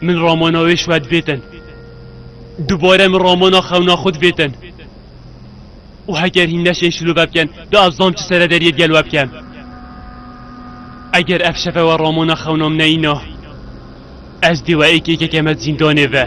Min romana wê ji we divêtin. Dubare min romana xewna xwe divêtin. Û heger hîn neşên şilove bikin, di ez zam çi serederiyê di gel we bikim. Eger ev şeve we romana xewna min neyîna, ez dê we êk êkeke me zîndanê ve.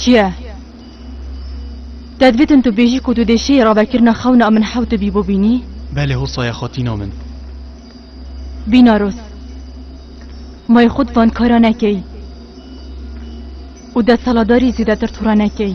Çi ye? Te divêtin tu bêjî ku tu dê şêyî ravekirina xewna min hewti bî bo bînî? Belê Hosa ye xatîna min. Bînaros, mayê xwe di van kara nekey û destaladarî zêdetir tûra nekey.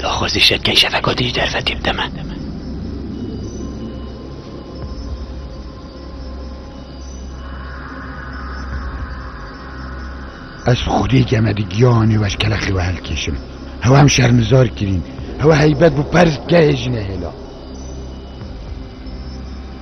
Daxwazî şetkên şefekatî ji derfetê bide me. Ez xwedê geme di giyanê we ji kelexê we helkêşim. Hew hem şermizar kirîn. Hew heybet bû perz bike hê jine hêla.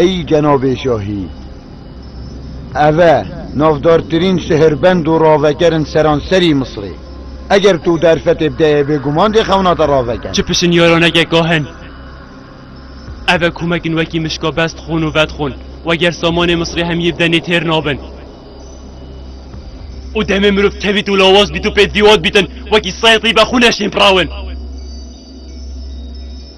Ey cenabê şahî! Ev e navdartirîn sihirbend û raveker in seranserî Misirê. Eger tu derfetê bideyê bêguman dê xewna te raveke. Çi pişinyaraneke gah in! Ev e komek in wekî mişka bestxûn û vedxûn weger samanê Misirê hemiyê bide nê têr nabin. Û demê mirov tevît û lawaz bît û pêdvî wan bît in wekî seytî be xûne şînprawin.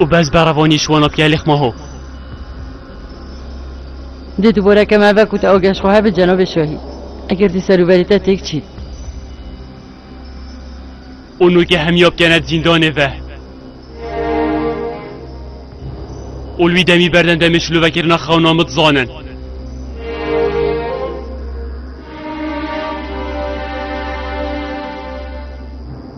û bez berevanî ji wana piyalê xma ho. Dê tu boreke me ve ku te ageh ji xwe hebe cenabê şahî. Eger dê ser û berê te têk çî. Û nûge hemiya bikene di zîndanê ve. Û li wî demî berden demê şilovekirina xewna min dizanin.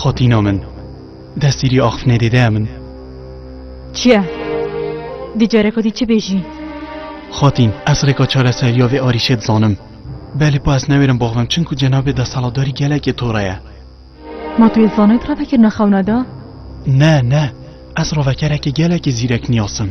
Xatîna min, destî rî axf nedê deya min. Çiye? Dî careka dî çi bêjî? Xatîn, ez rêka çareseriya vê arîşê dizanim. Belê pa ez newêrim bavim çimku cenabê desthilatdarî gelekê tora ye. Ma tu yê zanayî tira vekirina xewna de? Ne, ne. Ez ravekerekê gelekî zîrek nîyasim.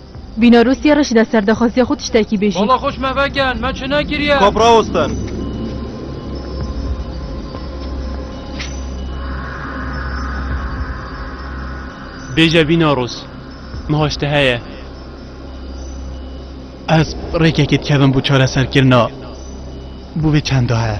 Bîna Rûsyê re jî de ser daxwaziya xwe tiştekî bêjî. Bala xwe ji me vekin, me çi nekiriye? Kap rawestin. Bêje Bîna Rûs, niha ji te heye. Ez rêkekê dikevim bû çareserkirina bûvê çendaye.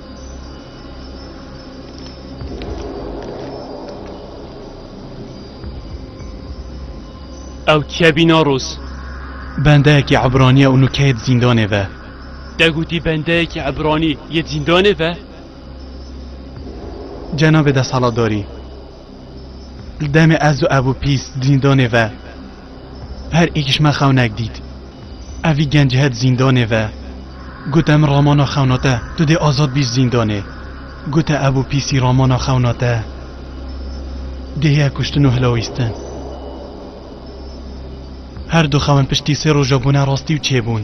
Ew çiye bîna roz. Bendeyekî Ebranî ye û nûke yê di zîndanê ve. Te gotî bendeyekî Ebranî yê di zîndanê ve? Cenabê desthilatdarî. Li demê ez û Ebû Pîs zîndanê ve her êkîş me xewnek dît. Ev vî genc het zîndanê ve gote min ramana xewna te, tu dê azad bî ji zîndanê. Gote Ebû Pîsî ramana xewna te dê heye kuştin û hilawîstin. Her du xewn piştî sê roja bûne rastî û çêbûn.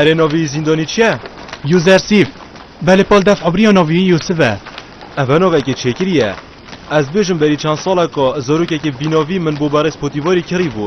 Erê navî zîndanî çi ye? Usersif, Belê pal def ebriya navî Yusif e. Ev e navekê çêkirî ye. Ez dibêjim berî çend saleka zarokekê bî navî min bo berê spotîvarî kirî bû.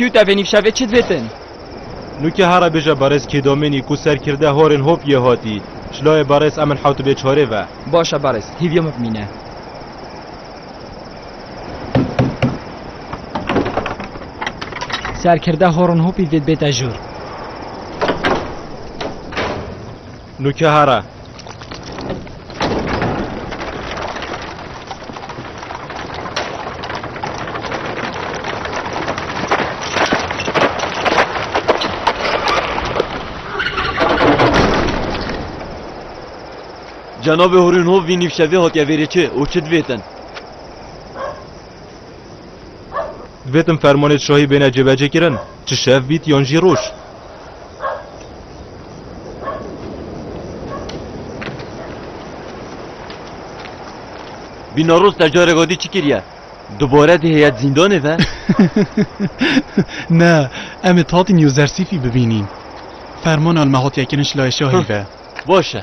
Cute, Avenue Chavez, Chitvetin. Nûkê hara bêje Berêz Kêdomênî ku serkirde horên hop yê hatî. Şlayê Berêz Emin Hewtibê Çarê ve. Baş e Berêz, hîvî hop mîne. Serkirde horên hopî vê bête jor. Nûkehara. Cenabê hûrî nû vî nîvşevê hatiye vêrê çi û çi divêtin? Divêtin fermanê şahî bêne cêvecêkirin, çi şev bît yan jî roj. Bîna roz te carek adî çi kiriye? Dubare dê heyet zîndanê ve? Ne, em ê Tatîn Yozersîfî bibînîn. Fermana li me hatiye kirin ji laya şahî ve. Baş e.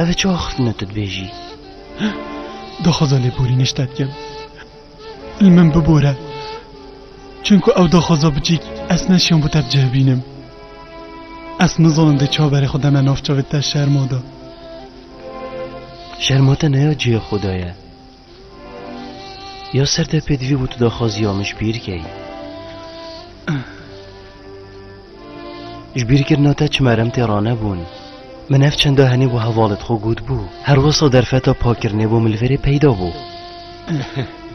Ev ê çawa xirtine tu dibêjî? Daxwaza lêborînê ji te dikim. Li min bibore. Çimku ew daxwaza biçîk ez neşiyan bo te bicihbînim. Ez nizanim dê çawa berê xwe deme nav çavê te şerma da. Şerma te neya cihê xwe de ye. Ya ser te pêdivî bû tu daxwaziya min ji bîr keyî. Ji bîrkirina te çi merem tê ranebûn. Min ev çenda henê bû hevalet xwe got bû. Her wisa derfeta pakirnê bû min li verê peyda bû.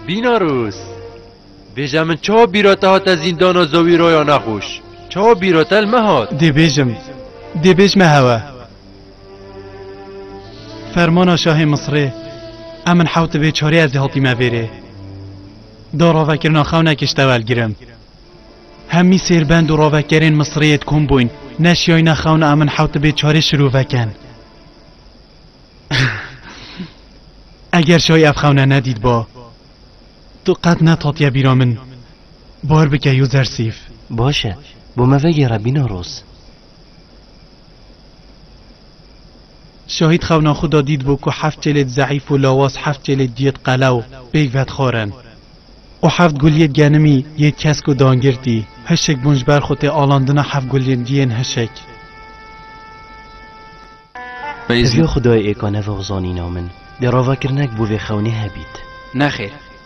Bînarûs! Bêje min çawa bîra te hate zîndana zewî raya nexweş? Çawa bîra te li me hat? Dê bêjim. Dê bêjme hewe. Fermana şahê Misrê em min hewt dibê çarê ez ê hatîme vêrê. Da ravekirina xewnekê ji te welgirim. Hemî sêrbend û ravekerên Misrê yê dikom bûyn neşiyayne xewna em min hewt dibê çarê şirûvekin. Eger şayî ev xewne nedîtba tu qet netatiye bîra min. Bar bike Yûzersîf. Baş e, bo me vegêre bîna roz. Şahîd xewna xwe da dîtbû ku heft çêlêd zeîf û lawaz heft çêlêd diyêd qelew pêk vedixwarin. Û heft guliyêd genimî yê kesk û dangirtî hişik bûn ji ber xwe tê alandina heft guliyên diyên hişik. Ev ya Xwedayê ê ka nevoxzanîna min dê ravakirinek bo vê xewnê hebît. Nexêr.